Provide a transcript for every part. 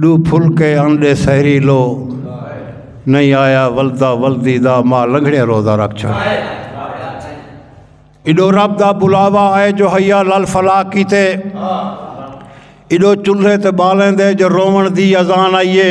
ݙو پھلکے آن ݙے سحری لو نہیں آیا ولدا ولدی دا ماں لنگھڑے روزہ رکھ چھڑ ایڈو رب دا بلاوا آئے جو حیا لال فلا کیتے ایڈو چلھے تے بالیں دے جو رومن دی ازان آئیے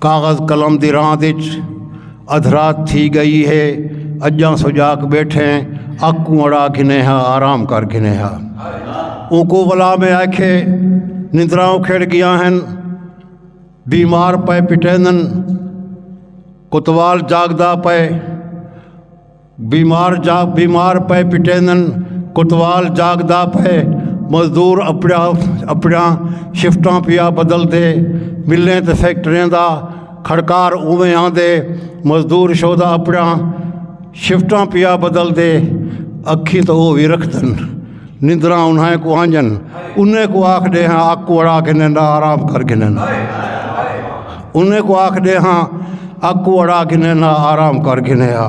کاغذ قلم دی راند اچ ادھرات تھی گئی ہے اجاں سجاک بیٹھے اکوں اڑا گھنے ہا آرام کر گھنے ہا اوکو ولا میں آکھے نندراں کھڑ گیا ہیں بیمار پے پٹیندن کتوال جاگدا پے بیمار جاگ بیمار پئے پٹیندن کوتوال جاگدا پئے مزدور اپڑیا اپڑیاں شفٹاں پیا بدل دے ملیں تے فیکٹریاں دا کھڑکار اوویں آندے مزدور شودا اپڑیاں شفٹاں پیا بدل دے اکھیں تو او وی رکھدن نندراں انہیں کو آنجن انہیں کو آکھ دے ہاں آکھ کو اڑا کے نیندا آرام کر کے نیندا انہیں کو آکھ دے ہاں آکھ کو اڑا کے نیندا آرام کر کے نیندا